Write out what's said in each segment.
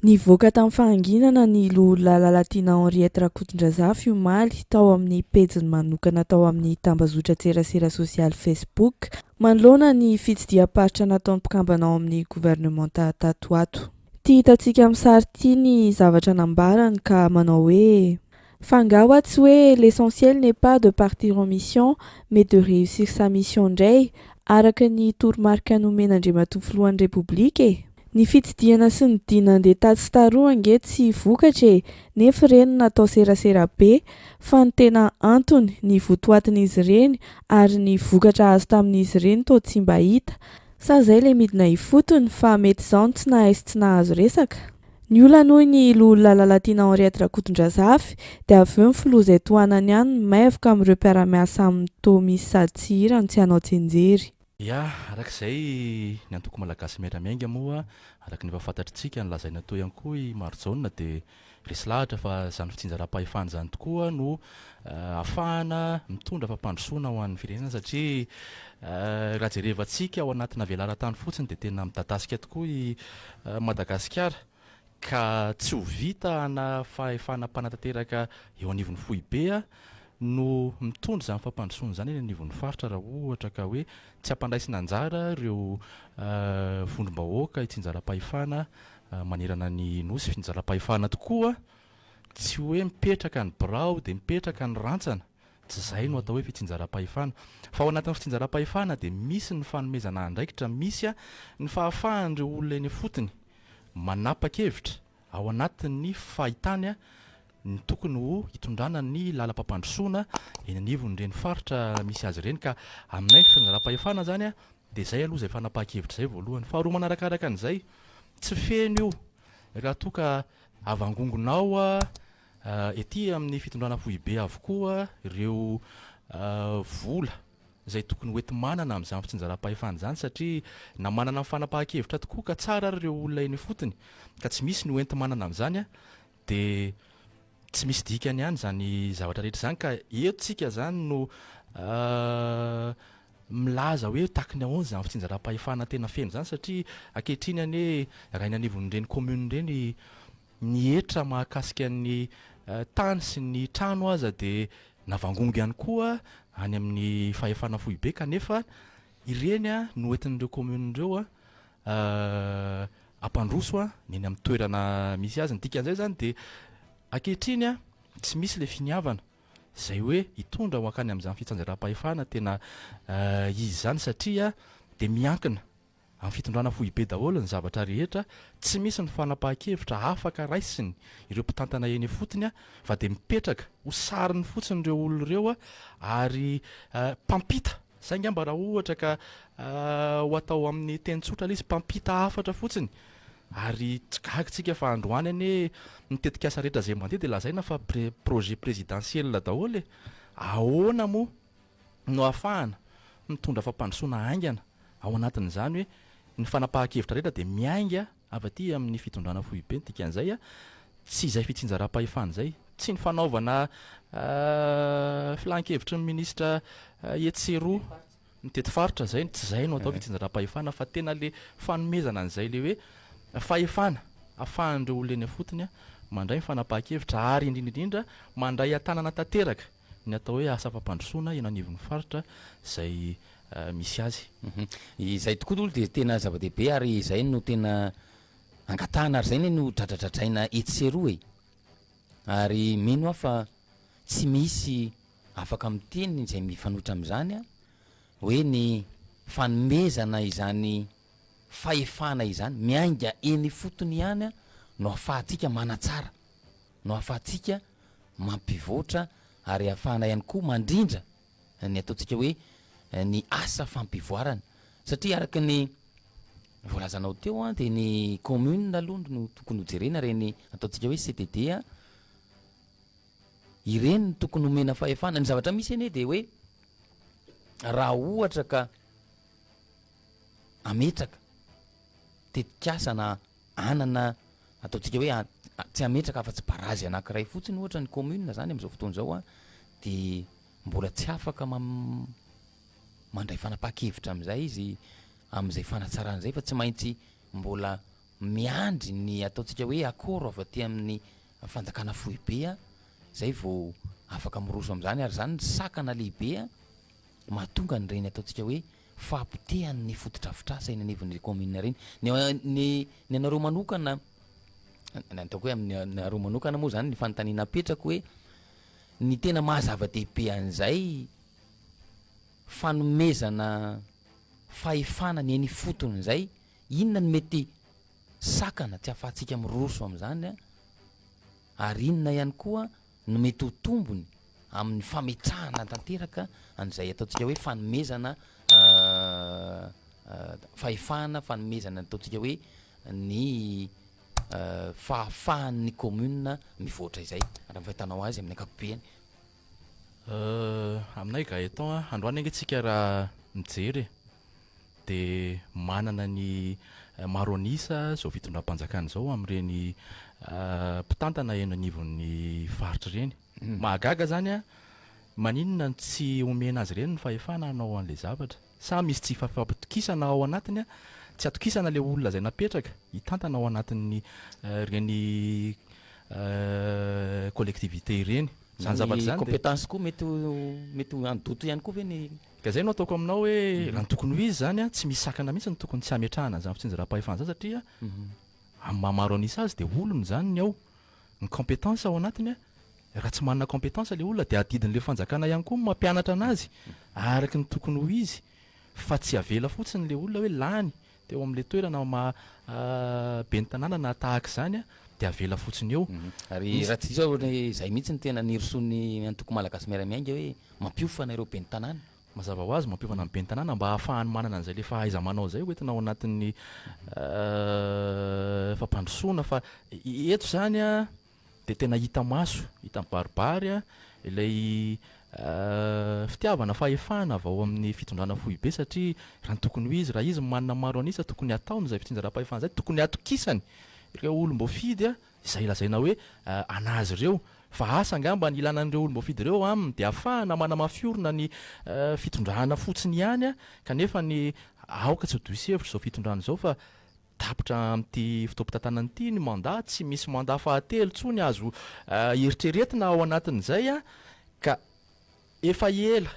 Nivoaka tamin'ny fahanginana ny Loholà Lalatiana Henriette Rakotondrazafy omaly tao amin'ny pejiny manokana tao amin'ny tambazotran-tserasera sosialy Facebook manoloana ny fitsidiham-paritra nataon'ny mpikambana ao amin'ny governemanta tato ho ato. Tia hitantsika amin'ny sary ity ny zavatra nambarany ka manao hoe. Fa nga wa tsy hoe l'essentiel n'est pas de partir en mission mais de réussir sa mission ndray araka ny toromarika nomen'Andriamatoa Filohan'ny Repoblika e? Ny fitsidihana sy ny dia nandeha tatsy sy taroa ange tsy vokatra e, nefy ireny natao serasera be, fa ny tena antony, ny votoatin'izy ireny ary ny vokatra azo tamin'izy ireny toa tsy mba hita. Sa zay le midina ifotony fa mety zao no tsy nahay sy tsy nahazo resaka? Ny olana hoy ny loholona Lalatiana Henriette Rakotondrazafy dia avy eo ny filoha izay tohanany ihany no maivoka amin'ireo mpiara-miasa aminy toa misy sady tsy hirany tsy hanao tsinjery. Ya, araka izay ny antoko malagasy miara-miainga moa araka ny efa fantatritsika ny lazaina toa ihany koa i Marijaona dia resy lahatra fa izany fitsinjaram-pahefana izany tokoa no ahafahana mitondra fampandrosoana ho an'ny firenena satria raha jerevantsika ao anatina velaran-tany fotsiny dia tena midadasika tokoa i Madagasikara ka tsy ho vita na fahefana mpanatanteraka eo anivon'ny foibe no mitondra izany fampandrosoana izany eny anivon'ny faritra raha ohatra ka hoe tsy ampandraisina anjara ireo vondrom-bahoaka hitsinjaram-pahefana manerana ny nosy fitsinjaram-pahefana tokoa Tsy hoe mipetraka ny birao dia mipetraka ny rantsana, tsy izay no atao hoe fitsinjaram-pahefana. Fa ao anatin'ny fitsinjaram-pahefana dia misy ny fanomezana andraikitra, misy ny fahafahan'ireo olona eny ifotony manapa-kevitra ao anatin'ny fahitany ny tokony ho hitondrana ny lalam-pampandrosoana eny anivon'ireny faritra misy azy ireny. Ka aminay fitsinjaram-pahefana izany dia izay aloha izay fanapahan-kevitra izay voalohany. Faharoa manarakaraka an'izay, tsy feno io Raha toa ka havangongonao ety amin'ny fitondrana foibe avokoa ireo vola izay tokony hoenti-manana amin'izany fitsinjaram-pahefana izany satria na manana ny fanapahan-kevitra tokoa ka tsara ary ireo olona eny ifotony ka tsy misy ny hoenti-manana amin'izany dia tsy misy dikany ihany izany zavatra rehetra izany ka eto isika izany no milaza hoe tack ny ahoana izany fitsinjaram-pahefana tena feno izany satria ankehitriny anie raha eny anivon'ireny commune ireny ny hetra mahakasika ny tany sy ny trano aza dia navangongo ihany koa any amin'ny fahefana foibe kanefa ireny no hoentin'ireo commune ireo hampandroso ny eny amin'ny toerana misy azy, ny dikan'izay izany dia ankehitriny tsy misy ilay finiavana. izay hoe hitondra ho hankany amin'izany fitsanjaram-pahefana tena izy izany satria dia miankina amin'ny fitondrana foibe daholo ny zavatra rehetra, tsy misy ny fanapahan-kevitra afaka raisiny ireo mpitantana eny ifotony fa dia mipetraka ho sariny fotsiny ireo olona ireo ary mpampita. Saingy angamba raha ohatra ka ho atao amin'ny teny tsotra ilay izy, mpampita hafatra fotsiny, ary tsy gaga isika fa androany anie ny tetikasa rehetra izay mandeha dia lazaina fa projet présidentiel daholo e! Ahoana moa no ahafahana mitondra fampandrosoana haingana ao anatin'izany hoe ny fanapahan-kevitra rehetra dia miainga Avy aty amin'ny fitondrana foibe ny dikan'izay a, tsy izay fitsinjaram-pahefana izay, tsy ny fanaovana filan-kevitry ny minisitra etsy sy eroa, mitety faritra izay no, tsy izay no atao fitsinjaram-pahefana fa tena ilay fanomezana an'izay ilay hoe fahefana ahafahan'ireo olona eny ifotony mandray ny fanapahan-kevitra ary indrindra indrindra mandray an-tanana tanteraka Ny atao hoe asa fampandrosoana eny anivon'ny faritra izay misy azy. Izay tokoa aloha dia tena zava-dehibe ary izay no tena angatahana ary izay anie no dradradradraina etsy sy eroa e! Ary mino aho fa tsy misy afaka miteny izay mifanohitra amin'izany an! hoe ny fanomezana izany fahefana izany miainga eny ifotony ihany an! no ahafahantsika manatsara. no ahafahantsika mampivoatra ary ahafahana ihany koa mandrindra ny ataontsika hoe ny asa fampivoarana satria araka ny voalazanao teo an dia ny commune aloha no tokony ho jerena ireny ataontsika hoe CDD a ireny no tokony homena fahefana ny zavatra misy anie dia hoe raha ohatra ka ametraka tetikasa na anana ataontsika hoe tsy hametraka afa-tsy barazy anankiray fotsiny ohatra ny commune zany amin'izao fotoana izao an, dia mbola tsy afaka mandray fanapahan-kevitra amin'izay izy amin'izay fanatsarana izay fa tsy maintsy mbola miandry ny ataontsika hoe accord avy aty amin'ny fanjakana foibe an, izay vao afaka miroso amin'izany ary izany no sakana lehibe an mahatonga an'ireny ataontsika hoe fahapotehany ny fotodrafitrasa eny anivon'ireny kaominina ireny. Ny ny ny anareo manokana, ny ataoko hoe amin'ny anareo manokana moa izany ny fanontaniana apetrako hoe ny tena maha zava-dehibe an'izay fanomezana fahefana ny eny ifotony izay, inona no mety sakana tsy ahafahantsika miroso amin'izany ary inona ihany koa no mety ho tombony amin'ny fametrahana tanteraka an'izay ataontsika hoe fanomezana fahefana, fanomezana ny ataontsika hoe ny fahafahan'ny commune mivoatra izay, raha ny fahitanao azy amin'ny ankapobeny. Aminay Gaëtan a, androany ange tsika raha mijery e. dia manana ny maro an'isa izao fitondram-panjakana izao amin'ireny mpitantana eny anivon'ny faritra ireny. Mahagaga izany an! Maninona no tsy omena azy ireny ny fahefana hanao an'ilay zavatra? Sa misy tsy fampitokisana ao anatiny an? Tsy atokisana ilay olona izay napetraka hitantana ao anatin'ny ireny collectivités ireny izany zavatra izany dia. Ny compétence koa mety ho mety handoto ihany koa ve ny. Ka zay no ataoko aminao hoe raha ny tokony ho izy zany a tsy misy sakana mihitsy ny tokony tsy hametrahana an'izany fitsinjaram-pahefana zany satria amin'ny maha maro an'isa azy dia olony zany ny ao, ny compétence ao anatiny a, raha tsy manana compétence le olona dia adidin'le fanjakana ihany koa ny mampianatra anazy araky ny tokony ho izy fa tsy avela fotsiny le olona hoe lany teo amin'ilay toerana maha ben'ny tanàna na tahaka izany dia avela fotsiny eo. Ary raha tsy diso aho ohatran'ny hoe izay mihitsy no tena nirosoan'ny antoko malagasy miara-miainga hoe mampiofana ireo ben'ny tanàna. Mazava ho azy, mampiofana ny ben'ny tanàna mba hahafahany manana an'izay ilay fahaiza-manao izay hoentina ao anatin'ny fampandrosoana fa eto izany dia tena hita maso, hita mibaribary an, ilay fitiavana fahefana avy ao amin'ny fitondrana foibe satria raha ny tokony ho izy, raha izy manana maro an'isa tokony hataony izay fitsinjaram-pahefana izay, tokony hatokisany ireo olom-boafidy an, izay lazaina hoe an'azy ireo, fa asa angamba ny ilana an'ireo olom-boafidy ireo eo aminy dia afahana manamafy orina ny fitondrana fotsiny ihany an, kanefa ny aoka tsy ho diso hevitra izao fitondrana izao fa Tapitra amin'ity fotoam-pitantanana ity ny mandat, tsy misy mandat fahatelo intsony azo eritreretina ao anatin'izay ka efa ela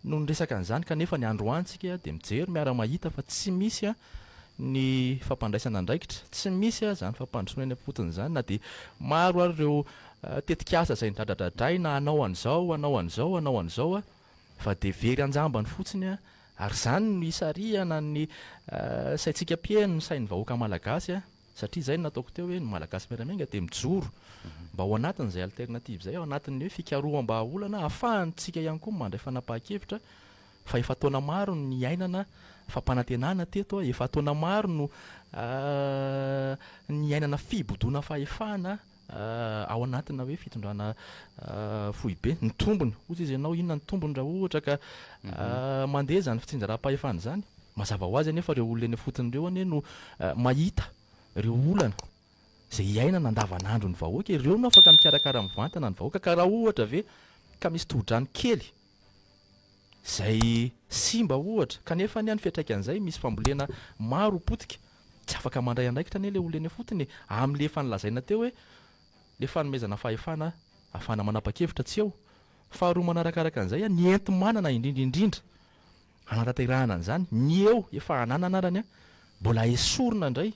no niresaka an'izany kanefa ny androany tsika dia mijery miara-mahita fa tsy misy ny fampandraisana andraikitra, tsy misy izany fampandrosoana eny am-potony izany na dia maro ary ireo tetikasa izay nidradradradraina hanao an'izao, hanao an'izao, hanao an'izao. fa dia very an-jambany fotsiny ary izany no hisarihana ny saintsika mpiheno ny sain'ny vahoaka malagasy satria izay no nataoko teo hoe ny malagasy miramiainga dia mijoro mba ao anatin'izay alternative izay ao anatin'ny hoe fikaroham-bahaolana ahafahantsika ihany koa mandray fanapahan-kevitra fa efa taona maro no niainana fampanantenana teto efa taona maro no niainana fibodoana fahefana ao anatina hoe fitondrana foibe, ny tombony, hozy izy ianao inona ny tombony raha ohatra ka mandeha izany fitsinjaram-pahefana izany, mazava ho azy anefa ireo olona eny ifotony ireo anie no mahita ireo olana izay iainana andavanandron'ny vahoaka, ireo no afaka mikarakara mivantana ny vahoaka ka raha ohatra ve ka misy tohodrano kely izay simba ohatra, kanefa anie any fiatraikan'izay misy fambolena maro potika, tsy afaka mandray andraikitra anie ilay olona eny ifotony e! amin'ilay efa nolazaina teo hoe ilay fanomezana fahefana afahana manapa-kevitra tsy eo, faharoa manarakaraka an'izay ny enti-manana indrindra indrindra hanatanterahana an'izany, ny eo efa ananana ary anie mbola esorina indray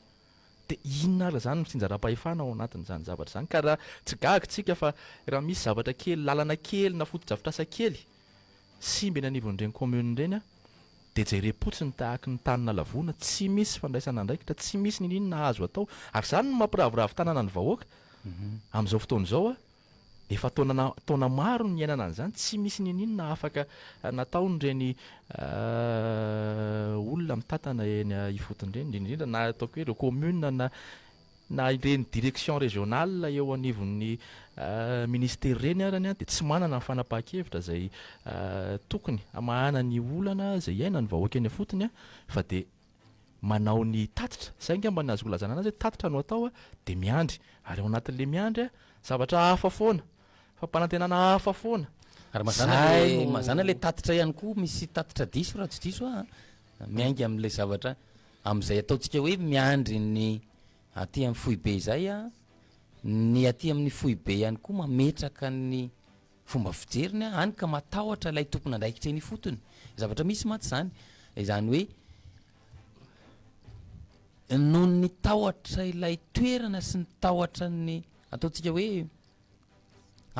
Dia inona ary izany no tsinjaram-pahefana ao anatin'izany zavatra izany? Ka raha tsy gaga isika fa raha misy zavatra kely, lalana kely na fotodrafitrasa kely simba eny anivon'ireny commune ireny dia jerem-potsiny tahaky ny tany nalavoana, tsy misy fandraisana andraikitra, tsy misy niniana azo atao. Ary izany no mampiraviravy tanana ny vahoaka amin'izao fotoana izao. Efa taona taona maro no niainana an'izany, tsy misy ninoninona afaka nataon'ireny olona mitantana eny ifotony ireny, indrindra indrindra na ataoko hoe ireo commune na na ireny direction régionale eo anivon'ny ministère ireny arany dia tsy manana ny fanapahan-kevitra izay tokony hamahana ny olana izay iainan'ny vahoaka eny ifotony fa dia manao ny tatitra, izay angamba ny azoko lazana anazy hoe tatitra no atao dia miandry, ary ao anatin'ilay miandry zavatra hafa foana, fampanantenana hafa foana. Ary mazàna ilay mazàna ilay tatitra ihany koa, misy tatitra diso raha tsy diso aho a, miainga amin'ilay zavatra amin'izay ataontsika hoe miandry ny aty amin'ny foibe izay a, ny aty amin'ny foibe ihany koa mametraka ny. fomba fijeriny an, hany ka matahotra ilay tompon'andraikitra eny ifotony, zavatra misy mantsy izany, izany hoe noho ny tahotra ilay toerana sy ny tahotra ny ataontsika hoe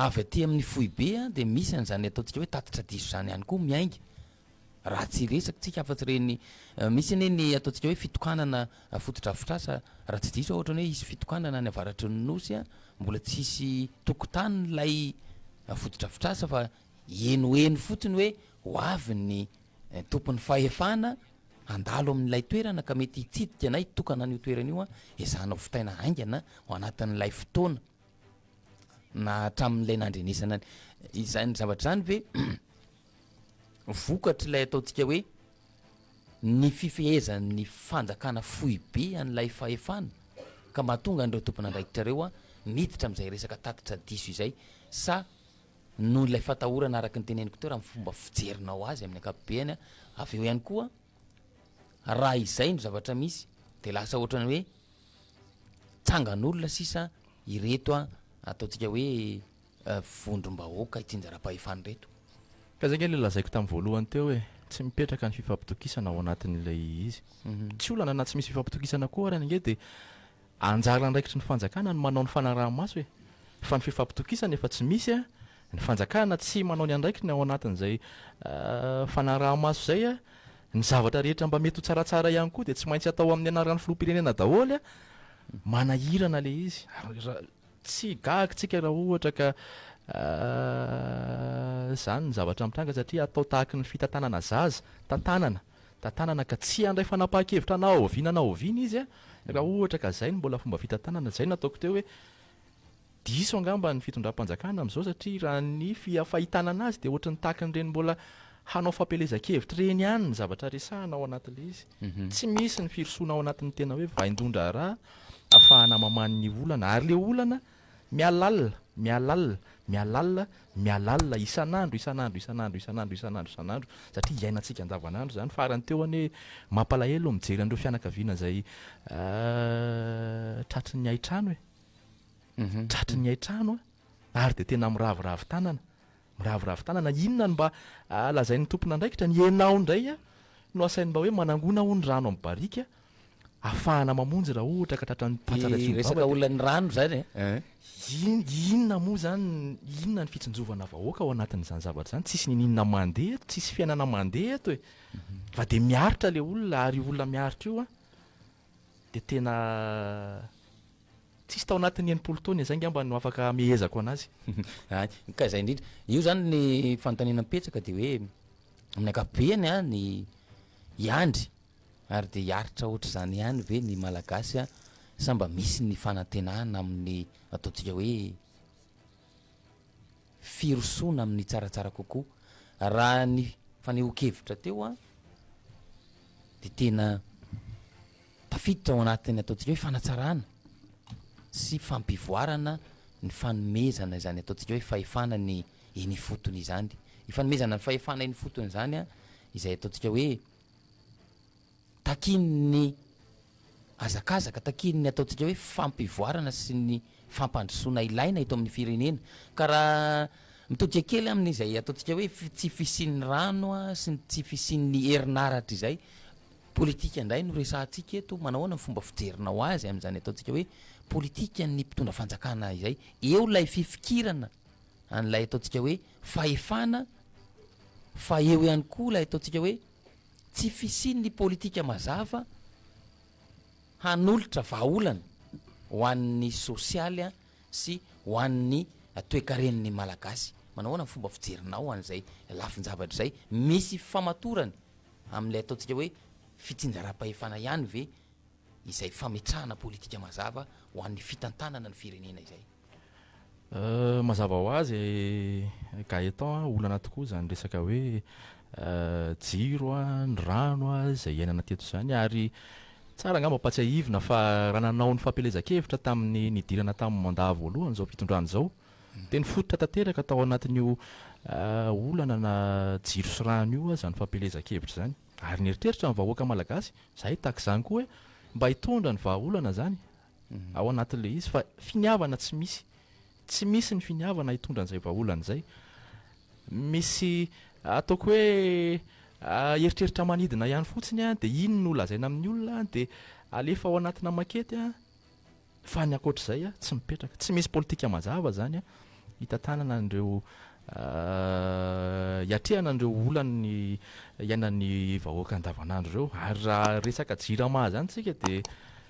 avy aty amin'ny foibe an dia misy an'izany ataontsika hoe tatitra diso izany ihany koa miainga, Raha tsy resakintsika afa-tsy ireny, misy anie ny ataontsika hoe fitokanana fotodrafitrasa, raha tsy diso aho ohatrany hoe hisy fitokanana any avaratry ny Nosy an, mbola tsy hisy tokotany ilay fotodrafitrasa fa henoheno fotsiny hoe ho avy ny tompon'ny fahefana handalo amin'ilay toerana ka mety hitsidika na hitokana an'io toerana io an, ezahana ho vitaina haingana ao anatin'ilay fotoana na hatramin'ilay nandrenesana ny izany zavatra izany ve? Vokatr'ilay ataontsika hoe ny fifehezan'ny fanjakana foibe an'ilay fahefana ka mahatonga an'ireo tompon'andraikitra ireo miditra amin'izay resaka tatitra diso izay sa noho ilay fatahorana araka ny teneniko teo raha ny fomba fijerinao azy amin'ny ankapobeny avy eo ihany koa raha izay no zavatra misy dia lasa ohatrany hoe tsangan'olona sisa ireto ataontsika hoe vondrom-bahoaka ity njara-pahefana ireto. Ka izay ange ilay lazaiko tamin'ny voalohany teo hoe tsy mipetraka ny fifampitokisana ao anatin'ilay izy. Tsy olana na tsy misy fifampitokisana koa ary ange dia anjara andraikitry ny fanjakana ny manao ny fanaraha-maso e! Fa ny fifampitokisana efa tsy misy an! Ny fanjakana tsy manao ny andraikiny ao anatin'izay fanaraha-maso izay an! Ny zavatra rehetra mba mety ho tsaratsara ihany koa dia tsy maintsy atao amin'ny anaran'ny filoham-pirenena daholo an! Manahirana ilay izy. Tsy gaga tsika raha ohatra ka izany ny zavatra mitranga satria atao tahaky ny fitantanana zaza, tantanana, tantanana ka tsy handray fanapahan-kevitra na oviana na oviana izy raha ohatra ka izay no mbola fomba fitantanana, izay no ataoko teo hoe diso angamba ny fitondram-panjakana amin'izao satria raha ny fahitana an'azy dia ohatran'ny tahaky ireny mbola hanao fampielezan-kevitra ireny ihany ny zavatra resahana ao anatin'ilay izy, tsy misy ny firosoana ao anatin'ny tena hoe vain-dohan-draharaha. Afahana mamany ny olana, ary le olana mihalalina, mihalalina, mihalalina, mihalalina isan'andro, isan'andro, isan'andro, isan'andro, isan'andro, isan'andro, satria iainantsika andavanandro izany. Farany teo anie, mampalahelo ny mijery an'ireo fianakaviana izay tratry ny haitrano e! Tratry ny haitrano an! Ary dia tena miraviravy tanana, Miraviravy tanana inona no mba lazain'ny tompon'andraikitra ny enao indray no asainy mba hoe manangona hono rano amin'ny barika afahana mamonjy raha ohatra ka tratran'ny patsa ilay solombavambe. Resaka olan'ny rano izany e. Eh. Inona moa izany, inona ny fitsinjovana vahoaka ao anatin'izany zavatra izany, tsisy niniana mandeha eto, tsisy fiainana mandeha eto e. Fa dia miaritra ilay olona ary io olona miaritra io an. dia tena tsisy tao anatin'ny enimpolo taona izay angamba no afaka hamehezako an'azy. Hay, ka izay indrindra. Io izany ny fanontaniana mipetraka dia hoe, amin'ny ankapobeny an, ny hiandry ary dia hiaritra hoatr'izany ihany ve ny Malagasy an, sa mba misy ny fanantenana amin'ny ataontsika hoe, firosoana amin'ny tsaratsara kokoa. Raha ny fanehoan-kevitra teo an, dia tena tafiditra ao anatin'ny ataontsika hoe fanatsarana sy fampivoarana ny fanomezana izany ataontsika hoe fahefana ny eny ifotony izany. Io fanomezana ny fahefana eny ifotony izany an, izay ataontsika hoe Takiany ny hazakazaka, takiany ny ataontsika hoe fampivoarana sy ny fampandrosoana ilaina eto amin'ny firenena. Ka raha mitodika kely amin'izay ataontsika hoe tsy fisian'ny rano sy ny tsy fisian'ny herinaratra izay, politika indray no resahantsika eto, manahoana ny fomba fijerinao azy amin'izany ataontsika hoe politikan'ny mpitondra fanjakana izay? Eo ilay fifikirana an'ilay ataontsika hoe fahefana fa eo ihany koa ilay ataontsika hoe tsy fisian'ny politika mazava hanolotra vahaolana ho an'ny sosialy sy ho an'ny toekaren'ny Malagasy. Manao ahoana ny fomba fijerinao ho an'izay lafin-javatra izay? Misy fifamatorany amin'ilay ataontsika hoe fitsinjaram-pahefana ihany ve izay fametrahana politika mazava ho an'ny fitantanana ny firenena izay? Mazava ho azy Gaëtan a, olana tokoa izany resaka hoe jiro a, ny rano a, izay iainana teto izany ary tsara angamba ampahatsiahivina fa raha nanao ny fampielezan-kevitra tamin'ny nidirana tamin'ny mandat voalohany izao fitondrana izao dia nifototra tanteraka tao anatin'io olana na jiro sy rano io izany fampielezan-kevitra izany. Ary nieritreritra ny vahoaka malagasy, izahay tahaka izany koa hoe mba hitondra ny vahaolana izany ao anatin'ilay izy fa finiavana tsy misy, tsy misy ny finiavana hitondra an'izay vahaolana izay. Misy ataoko hoe eritreritra manidina ihany fotsiny an, dia iny no lazaina amin'ny olona an, dia alefa ao anatina makety an, fa ny ankoatr'izay an, tsy mipetraka. Tsy misy politika mazava izany an, hitantanana an'ireo hiatrehana an'ireo olan'ny iainan'ny vahoaka andavanandro ireo. Ary raha resaka jirama izany isika dia.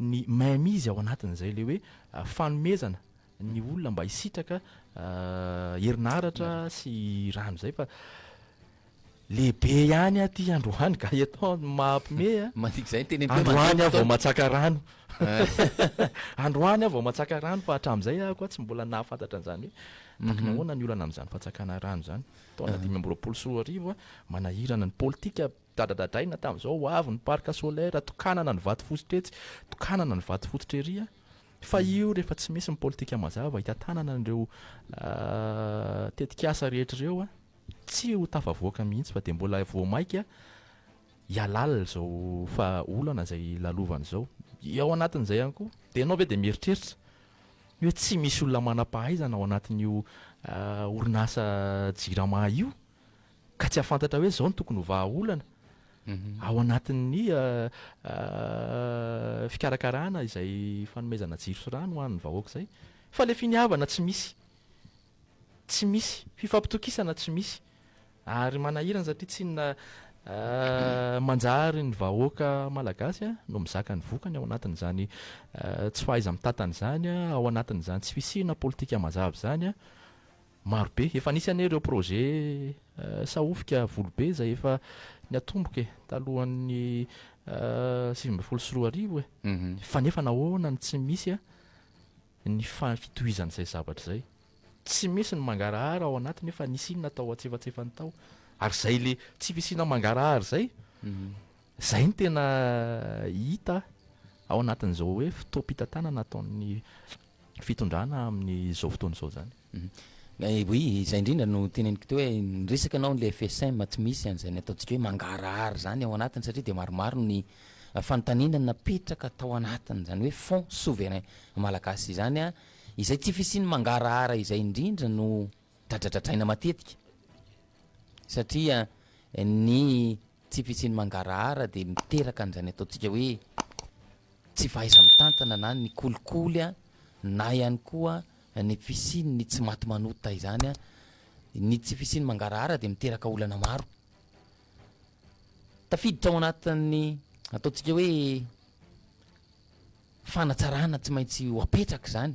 ny mainmise ao anatin'izay, ilay hoe fanomezana ny olona mba hisitraka herinaratra sy rano izay fa lehibe ihany aty androany Gaëtan no mahampime a. Mandika izay ny teny am-peo mandoa fotoana. Androany aho vao matsaka rano. Androany aho vao matsaka rano fa hatramin'izay aho koa tsy mbola nahafantatra an'izany hoe tokony ahoana ny olana amin'izany fatsakana rano izany. Taona dimy amby roapolo sy roa arivo a, manahirana ny politika Dradradadaina tamin'izao ho avy ny parc solaire, tokanana ny vato fosotra etsy, tokanana ny vato fototra ery a! Fa io rehefa tsy misy ny politika mazava hitantanana an'ireo tetik'asa rehetra ireo a, tsy ho tafavoaka mihitsy fa dia mbola vao mainka hihalala izao vahaolana izay lalovana izao. Ao anatin'izay ihany koa, dia ianao ve dia mieritreritra hoe tsy misy olona manam-pahaizana ao anatin'io orinasa jirama io? ka tsy hahafantatra hoe izao no tokony ho vahaolana ao anatin'ny fikarakarana izay fanomezana jiro sy rano ho an'ny vahoaka izay. Fa ilay finiavana tsy misy. Tsy misy. Fifampitokisana tsy misy. Ary manahirana satria tsy inona manjary ny vahoaka malagasy no mizaka ny vokany ao anatin'izany tsy fahaiza-mitatana izany, ao anatin'izany tsy fisiana politika mazava izany. Marobe, efa nisy anie ireo projet sahofika voly be izay efa niatomboka e, talohan'ny sivy ambin'ny folo sy roa arivo e, fa nefa nahoana no tsy misy a, ny fitohizan'izay zavatra izay, tsy misy ny mangarahara ao anatiny hoe fa nisy inona tao antsefatsefany tao, ary izay le tsy fisiana mangarahara izay, izay no tena hita ao anatin'izao hoe fotoam-pitantanana ataon'ny fitondrana amin'ny izao fotoana izao izany. Oui, izay indrindra no teneniko teo hoe ny resaka anao ilay FSM tsy misy an'izany ataontsika hoe mangarahara izany ao anatiny satria dia maromaro ny fanontaniana napetraka tao anatiny izany hoe fonds souverain malagasy izany an, izay tsy fisian'ny mangarahara izay indrindra no dradradradraina matetika satria ny tsy fisian'ny mangarahara dia miteraka an'izany ataontsika hoe. tsy fahaiza-mitantana na ny kolikoly na ihany koa ny fisian'ny tsy maty manota izany, ny tsy fisian'ny mangarahara dia miteraka olana maro. Tafiditra ao anatin'ny ataontsika hoe fanatsarana tsy maintsy ho apetraka izany.